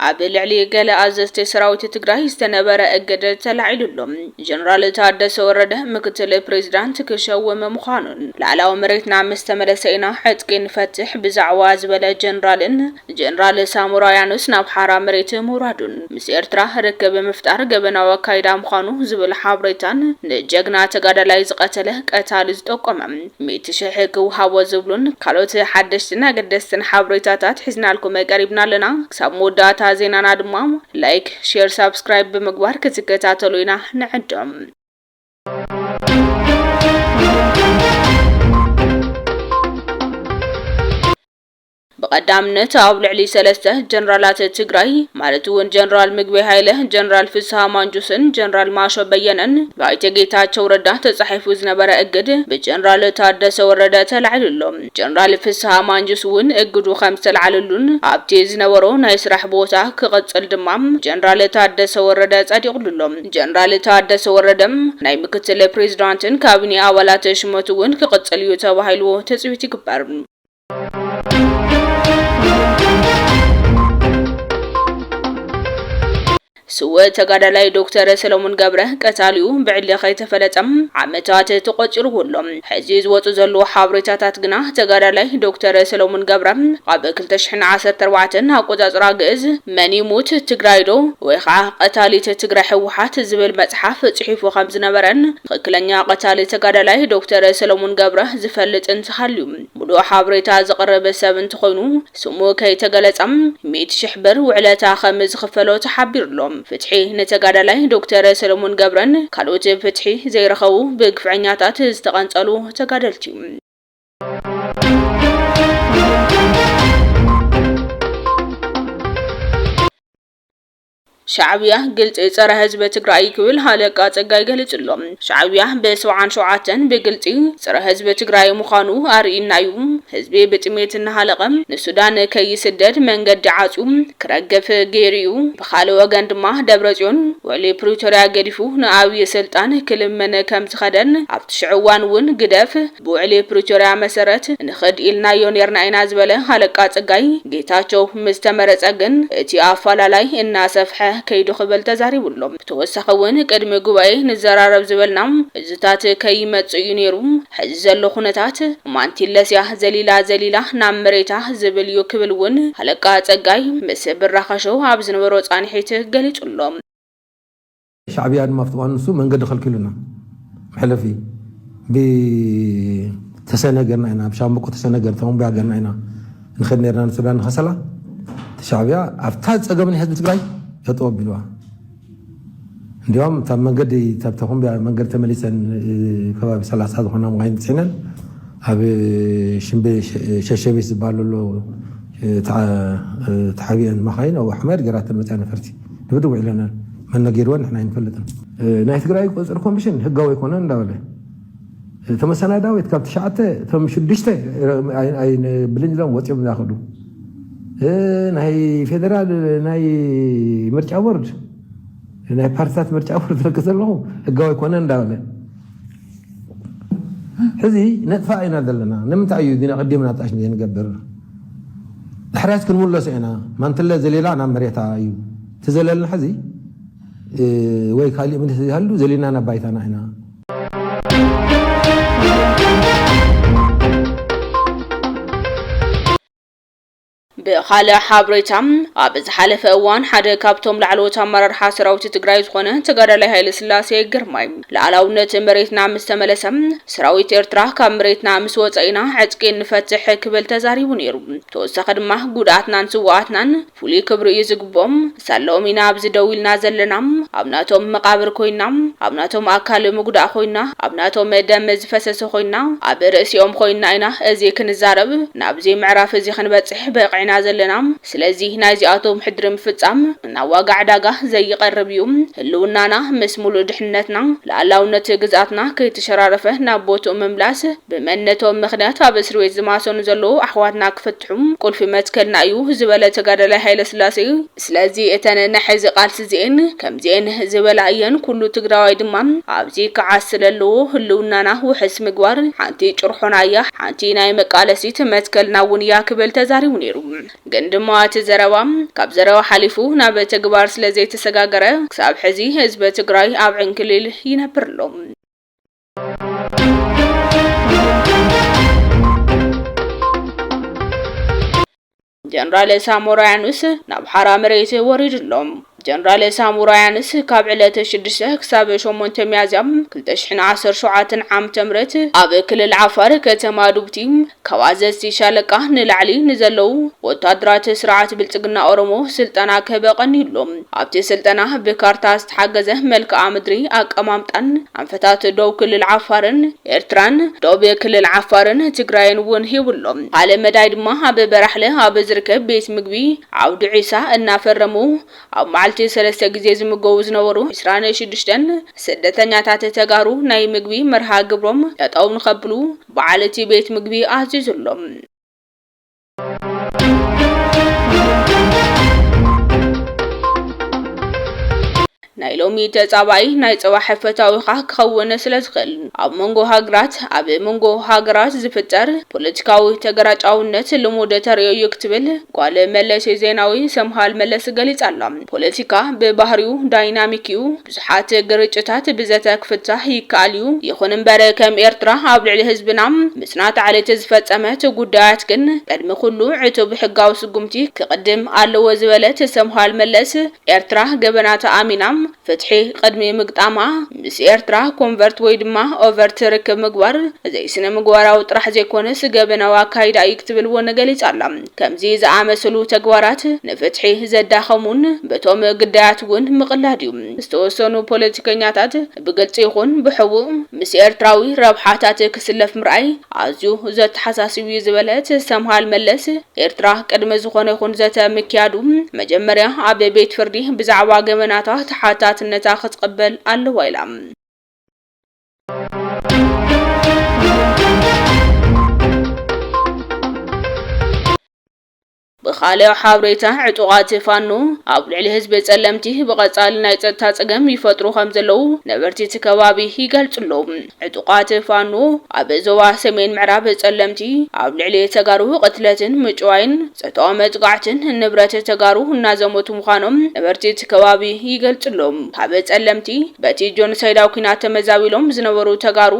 ኣብ ልዕሊ ገለ ኣዘዝቲ ሰራዊት ትግራይ ዝተነበረ እግድ ተላዒሉ ኣሎ። ጀነራል ታደሰ ወረደ ምክትል ፕሬዚዳንት ክሸውም ምዃኑን ላዕላዊ መሬትና ምስ ተመለሰ ኢና ዕጥቂ ንፈትሕ ብዛዕባ ዝበለ ጀነራልን ጀነራል ሳሞራ ያኑስ ናብ ሓራ መሬት ምውራዱን ምስ ኤርትራ ርክብ ምፍጣር ገበናዊ ኣካይዳ ምዃኑ ዝብል ሓብሬታን ንጀግና ተጋዳላይ ዝቐተለ ቀታሊ ዝጠቆመ ሚእቲ ሽሕ ክውሃቦ ዝብሉን ካልኦት ሓደሽትን ኣገደስትን ሓብሬታታት ሒዝናልኩም ቀሪብና ኣለና። ክሳብ መወዳእታ ዜናና ድማ ላይክ፣ ሼር፣ ሳብስክራይብ ብምግባር ክትከታተሉ ኢና ንዕድም። ብቐዳምነት ኣብ ልዕሊ ሰለስተ ጀነራላት ትግራይ ማለት እውን ጀነራል ምግበይ ሃይለ፣ ጀነራል ፍስሃ ማንጁስን ጀነራል ማሾ በየነን ብኣይተ ጌታቸው ረዳ ተፃሒፉ ዝነበረ እግድ ብጀነራል ታደሰ ወረደ ተላዒሉ ኣሎ። ጀነራል ፍስሃ ማንጁስ እውን እግዱ ከምዝተልዓለሉን ኣብቲ ዝነበሮ ናይ ስራሕ ቦታ ክቕፅል ድማ ብጀነራል ታደሰ ወረደ ፀዲቕሉ ኣሎ። ጀነራል ታደሰ ወረደ ናይ ምክትል ፕሬዚዳንትን ካቢኔ ኣባላት ሽመት እውን ክቕፅል እዩ ተባሂሉ ትፅቢት ይግበር። ስውእ ተጋዳላይ ዶክተር ሰለሙን ገብረ ቀታሊኡ ብዕሊ ከይተፈለጠ ዓመታት ተቖፂርዎ ኣሎ። ሕዚ ዝወፁ ዘለዉ ሓበሬታታት ግና ተጋዳላይ ዶክተር ሰለሙን ገብረ ኣብ 2014 ኣቆፃፅራ ግእዝ መን ይሙት ትግራይ ዶ ወይ ከዓ ቀታሊት ትግራይ ህወሓት ዝብል መፅሓፍ ፅሒፉ ከምዝነበረን ትኽክለኛ ቀታሊ ተጋዳላይ ዶክተር ሰለሙን ገብረ ዝፈልጥ እንተሃልዩ ሙሉእ ሓብሬታ ዘቕርብ ሰብ እንተኾይኑ ስሙ ከይተገለፀ ሚእቲ ሽሕ ብር ውዕለታ ከም ዝኽፈሎ ተሓቢሩ ኣሎ። ፍትሒ ንተጋዳላይ ዶክተር ሰለሙን ገብረን ካልኦት ፍትሒ ዘይረኸቡ ብግፍዐኛታት ዝተቐንፀሉ ተጋደልቲ። ሻዕብያ ግልፂ ፀረ ህዝቢ ትግራይ እዩ ክብል ሃለቃ ፀጋይ ገሊፁ ኣሎ። ሻዕብያ ብ ሰብዓን ሸውዓተን ብግልፂ ፀረ ህዝቢ ትግራይ ምዃኑ ኣርኢና እዩ። ህዝቢ ብጥሜት እናሃለቐ ንሱዳን ከይስደድ መንገዲ ዓፅዩ ክረግፍ ገይሩ እዩ። ብኻልእ ወገን ድማ ደብረፅዮን ውዕሊ ፕሪቶርያ ገዲፉ ንኣብዪ ስልጣን ክልምን ከምዝኸደን ኣብቲ ሽዑ እዋን እውን ግደፍ፣ ብውዕሊ ፕሪቶርያ መሰረት ንኽድ ኢልናዮ ኔርና ኢና ዝበለ ሃለቃ ፀጋይ፣ ጌታቸው ምስ ተመረፀ ግን እቲ ኣፋላላይ እናሰፍሐ ከይዱ ክብል ተዛሪቡ ኣሎ። ብተወሳኺ እውን ቅድሚ ጉባኤ ንዘራረብ ዝበልና እዙታት ከይመፅእ እዩ ኔሩ፣ ሕዚ ዘሎ ኩነታት ማንቲለስ እያ ዘሊላ ዘሊላ ናብ መሬታ ዝብል እዩ ክብል እውን ሃለቃ ፀጋይ ምስ ብራኸ ሾው ኣብ ዝነበሮ ፃንሒት ገሊፁ ኣሎ። ሻዕብያ ድማ ኣብቲ እዋን ንሱ መንገዲ ከልኪሉና መሕለፊ ብተሰነ ገርና ኢና ብሻምብቆ ተሰነ ገር ተመንቡያ ገርና ኢና ንኸድ ነርና ንሱዳን ንኸሰላ እቲ ሻዕብያ ኣብታ ፀገም ናይ ህዝቢ ትግራይ ጠጠው ኣቢልዋ እንዲያውም እታ መንገዲ እታ ኮምቢያ መንገዲ ተመሊሰን ከባቢ ሰላሳ ዝኾና መኻይን ፅዒነን ኣብ ሽምቤ ሸሸቤት ዝበሃለሎ ተሓቢአን መኻይን ኣብ ኣሕመድ ገራተን መፅያ ነፈርቲ ድብድብ ውዒለናል መን ነጊርወን ንሕና ኣይንፈልጥን ናይ ትግራይ ቁፅፅር ኮሚሽን ህጋዊ ኣይኮነን እንዳበለ እቶም ኣሰናዳዊት ካብ ትሽዓተ እቶም ሽዱሽተ ብልኝ ኢሎም ወፂኦም ዛኸዱ ናይ ፌደራል ናይ ምርጫ ቦርድ ናይ ፓርቲታት ምርጫ ቦርድ ትረክ ዘለኹ ህጋዊ ኣይኮነን እንዳበለ ሕዚ ነጥፋእ ኢና ዘለና ንምንታይ እዩ ግን ኣቀዲምና ጣሽ ዘይንገብር ድሕሪያት ክንምለሶ ኢና ማንትለ ዘሌላ ናብ መሬታ እዩ ትዘለልና ሕዚ ወይ ካሊእ ምልስ ዘይሃሉ ዘሌና ናብ ባይታና ኢና ብኻልእ ሓብሬታ ኣብ ዝሓለፈ እዋን ሓደ ካብቶም ላዕለዎት ኣመራርሓ ሰራዊት ትግራይ ዝኾነ ተጋዳላይ ሃይለስላሴ ግርማይ ልኣላውነት መሬትና ምስ ተመለሰ ሰራዊት ኤርትራ ካብ መሬትና ምስ ወፀ ኢና ዕጥቂ እንፈትሕ ክብል ተዛሪቡ ነይሩ። ተወሳኺ ድማ ጉድኣትናን ስውኣትናን ፍሉይ ክብሪ እዩ ዝግብኦም፣ ሳለኦም ኢና ኣብዚ ደው ኢልና ዘለና ኣብ ናቶም መቃብር ኮይና ኣብ ናቶም ኣካል ምጉዳእ ኮይና ኣብ ናቶም ደም ዝፈሰሰ ኮይና ኣብ ርእሲኦም ኮይና ኢና እዚ ክንዛረብ ናብዚ ምዕራፍ እዚ ክንበጽሕ በቂዕና ዘለና ስለዚ ናይዚኣቶም ሕድሪ ምፍጻም ናብ ዋጋ ዕዳጋ ዘይቀርብ እዩ ህልውናና ምስ ሙሉእ ድሕንነትና ልኣላውነት ግዝኣትና ከይተሸራረፈ ናብ ቦትኡ ምምላስ ብመንነቶም ምኽንያት ኣብ እስርቤት ዝማሰኑ ዘለዉ ኣሕዋትና ክፍት ጥዑም ቁልፊ መትከልና እዩ ዝበለ ተጋዳላይ ሃይለስላሴ፣ ስለዚ እተን ናይ ሕዚ ቃልሲ እዚኤን ከምዚኤን ዝበላ እየን፣ ኩሉ ትግራዋይ ድማ ኣብዚ ክዓስል ኣለዎ፣ ህልውናና ውሕስ ምግባር ሓንቲ ጭርሖና እያ፣ ሓንቲ ናይ መቃለሲት መትከልና እውን እያ ክብል ተዛሪቡ ነይሩ። ግን ድማ እቲ ዘረባ ካብ ዘረባ ሓሊፉ ናብ ተግባር ስለዘይተሰጋገረ ክሳብ ሕዚ ህዝቢ ትግራይ ኣብ ዕንክሊል ይነብር ኣሎ። ጀነራል ሳሞራ ያኑስ ናብ ሓራ መሬት ወሪዱ ኣሎ። ጀነራል ሳሞራ ያኑስ ካብ ዕለት 6 ክሳብ 8 ሚያዝያ 2017 ዓ.ም ኣብ ክልል ዓፋር ከተማ ዱብቲ ካብ ኣዘዝቲ ሻለቃ ንላዕሊ ንዘለዉ ወታደራት ስርዓት ብልፅግና ኦሮሞ ስልጠና ክህበ ቀኒዩሉ። ኣብቲ ስልጠና ብካርታ ዝተሓገዘ መልክኣ ምድሪ ኣቀማምጣን ኣንፈታት ዶብ ክልል ዓፋርን ኤርትራን፣ ዶብ ክልል ዓፋርን ትግራይን እውን ሂቡ ኣሎ። ብኻልእ መዳይ ድማ ኣብ በራሕለ ኣብ ዝርከብ ቤት ምግቢ ዓውዲ ዒሳ እናፈረሙ ኣብ መዓልቲ ሰለስተ ግዜ ዝምገቡ ዝነበሩ ዕስራን ሽዱሽተን ስደተኛታት ተጋሩ ናይ ምግቢ መርሃ ግብሮም ጠጠው ንኸብሉ በዓል እቲ ቤት ምግቢ ኣዚዙሎም። ናይ ሎሚ ተጻባኢ ናይ ጽባሕ ፈታዊኻ ክኸውን ስለ ዝኽእል ኣብ መንጎ ሃገራት ኣብ መንጎ ሃገራት ዝፍጠር ፖለቲካዊ ተገራጫውነት ልሙድ ተርእዮ እዩ ክትብል ጓል መለስ ዜናዊ ሰምሃል መለስ ገሊጻ ኣላ። ፖለቲካ ብባህሪኡ ዳይናሚክ እዩ። ብዙሓት ግርጭታት ብዘተ ክፍታሕ ይከኣል እዩ፣ ይኹን እምበር ከም ኤርትራ ኣብ ልዕሊ ህዝብና ምጽናት ዓሌት ዝፈጸመት ጉዳያት ግን ቅድሚ ኩሉ ዕቱብ ሕጋዊ ስጉምቲ ክቕድም ኣለዎ ዝበለት ሰምሃል መለስ፣ ኤርትራ ገበናታ ኣሚና ፍትሒ ቅድሚ ምግጣማ ምስ ኤርትራ ኮንቨርት ወይ ድማ ኦቨርት ርክብ ምግባር ዘይስነምግባራዊ ጥራሕ ዘይኮነስ ገበናዊ ኣካይዳ እዩ ክትብል እውን ገሊጻ ኣላ። ከምዚ ዝኣመሰሉ ተግባራት ንፍትሒ ዘዳኸሙን በቶም ግዳያት እውን ምቕላድ እዩ። ዝተወሰኑ ፖለቲከኛታት ብግልፂ ይኹን ብሕቡእ ምስ ኤርትራዊ ረብሓታት ክስለፍ ምርኣይ ኣዝዩ ዘተሓሳስብ እዩ ዝበለት ሰምሃል መለስ፣ ኤርትራ ቅድሚ ዝኾነ ይኹን ዘተ ምክያዱ መጀመርያ ኣብ ቤት ፍርዲ ብዛዕባ ገበናታ ተሓታትነታ ክትቕበል ኣለዋ ኢላ። ብኻልእ ሓብሬታ ዕጡቓት ፋኖ ኣብ ልዕሊ ህዝቢ ጸለምቲ ብቐጻሊ ናይ ጸጥታ ጸገም ይፈጥሩ ከም ዘለዉ ነበርቲ እቲ ከባቢ ይገልጹ ኣለዉ። ዕጡቓት ፋኖ ኣብ ዞባ ሰሜን ምዕራብ ጸለምቲ ኣብ ልዕሊ ተጋሩ ቅትለትን ምጭዋይን፣ ጾታዊ መጥቃዕትን ንብረት ተጋሩ እናዘመቱ ምዃኖም ነበርቲ እቲ ከባቢ ይገልጹ ኣሎ። ካብ ጸለምቲ በቲ ጆኖሳይዳዊ ኲናት ተመዛቢሎም ዝነበሩ ተጋሩ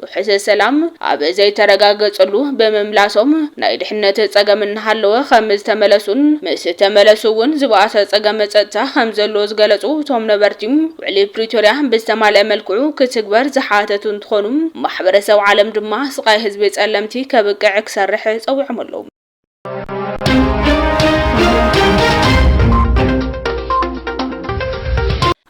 ውሕስ ሰላም ኣብ ዘይተረጋገጸሉ ብምምላሶም ናይ ድሕነት ጸገም እናሃለወ ከም ዝተመለሱን ምስ ተመለሱ እውን ዝበኣሰ ጸገም ጸጥታ ከም ዘሎ ዝገለጹ እቶም ነበርቲ ውዕሊ ፕሪቶርያ ብዝተማልኣ መልክዑ ክትግበር ዝሓተቱ እንትኾኑ ማሕበረሰብ ዓለም ድማ ስቓይ ህዝቢ ጸለምቲ ከብቅዕ ክሰርሕ ጸዊዖም ኣለው።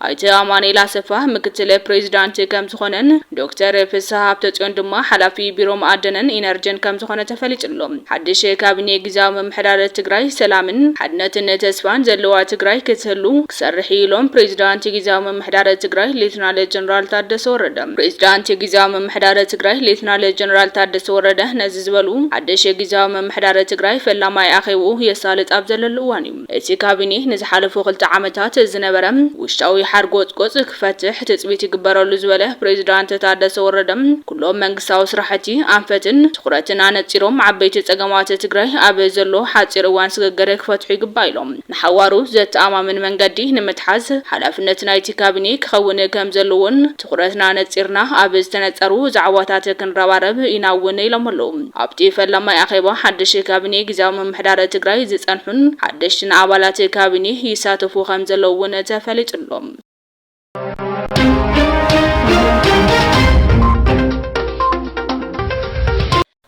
ኣይተ ኣማኑኤል ኣሰፋ ምክትል ፕሬዚዳንት ከም ዝኾነን ዶክተር ፍስሐ ሃብተፅዮን ድማ ሓላፊ ቢሮ መኣደንን ኢነርጅን ከም ዝኾነ ተፈሊጡ ኣሎ። ሓድሽ ካቢኔ ግዝያዊ ምምሕዳር ትግራይ ሰላምን ሓድነትን ተስፋን ዘለዋ ትግራይ ክትህሉ ክሰርሕ እዩ ኢሎም ፕሬዚዳንት ግዝያዊ ምምሕዳር ትግራይ ሌትናል ጀነራል ታደሰ ወረደ። ፕሬዚዳንት ግዝያዊ ምምሕዳር ትግራይ ሌትናል ጀነራል ታደሰ ወረደ ነዚ ዝበሉ ሓድሽ ጊዚያዊ ምምሕዳር ትግራይ ፈላማይ ኣኼብኡ የሳልጥ ኣብ ዘለሉ እዋን እዩ እቲ ካቢኔ ንዝሓለፉ ክልተ ዓመታት ዝነበረ ውሽጣዊ ሓርጎጽጎጽ ክፈትሕ ትጽቢት ይግበረሉ ዝበለ ፕሬዚዳንት ታደሰ ወረደ ኩሎም መንግስታዊ ስራሕቲ ኣንፈትን ትኹረትን ኣነጺሮም ዓበይቲ ጸገማት ትግራይ ኣብ ዘሎ ሓጺር እዋን ስግግር ክፈትሑ ይግባእ ኢሎም። ንሓዋሩ ዘተኣማምን መንገዲ ንምትሓዝ ሓላፍነት ናይቲ ካቢኔ ክኸውን ከምዘለዎን ትኹረትና ነፂርና ኣብ ዝተነፀሩ ዛዕባታት ክንረባረብ ኢና እውን ኢሎም ኣለው። ኣብቲ ፈላማይ ኣኼባ ሓድሽ ካቢኔ ጊዚያዊ ምምሕዳር ትግራይ ዝፀንሑን ሓደሽቲን ኣባላት ካቢኔ ይሳተፉ ከምዘለው እውን ተፈሊጡ ኣሎ።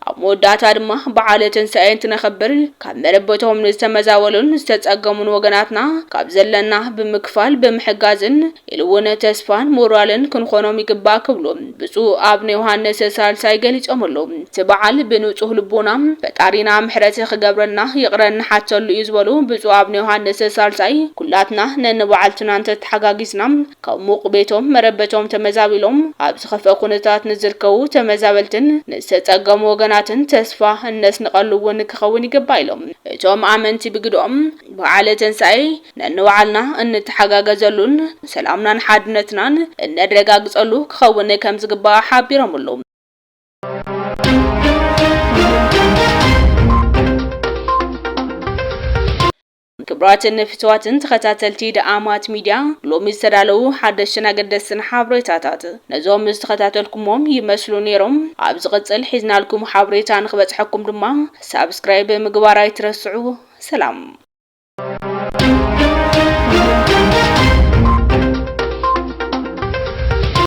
ኣብ መወዳእታ ድማ በዓለ ትንሳኤ እንትነኽብር ካብ መረበቶም ንዝተመዛበሉን ዝተፀገሙን ወገናትና ካብ ዘለና ብምክፋል ብምሕጋዝን ኢሉ እውን ተስፋን ሞራልን ክንኾኖም ይግባእ ክብሉ ብፁዕ ኣብነ ዮሃንስ ሳልሳይ ገሊፆምሉ። እቲ በዓል ብንፁህ ልቦና ፈጣሪና ምሕረት ክገብረልና ይቕረ እንሓተሉ እዩ ዝበሉ ብፁዕ ኣብነ ዮሃንስ ሳልሳይ ኩላትና ነንባዕልትና እንተተሓጋጊዝና ካብ ሙቕ ቤቶም መረበቶም ተመዛቢሎም ኣብ ዝኸፍኣ ኩነታት ንዝርከቡ ተመዛበልትን ንዝተፀገሙ ወገናትን ተስፋ እነስንቐሉ እውን ክኸውን ይግባእ ኢሎም። እቶም ኣመንቲ ብግደኦም፣ በዓለ ትንሳኤ ነንባዕልና እንተሓጋገዘሉን ሰላምናን ሓድነትናን እነረጋግፀሉ ክኸውን ከምዝግባእ ሓቢሮምሉ። ክብራትን ፍትዋትን ተኸታተልቲ ደኣማት ሚድያ ሎሚ ዝተዳለዉ ሓደሽትን ኣገደስትን ሓብሬታታት ነዞም ዝተኸታተልኩሞም ይመስሉ ኔሮም ኣብ ዝቕጽል ሒዝናልኩም ሓብሬታ ንኽበጽሐኩም ድማ ሳብስክራይብ ምግባር ኣይትረስዑ ሰላም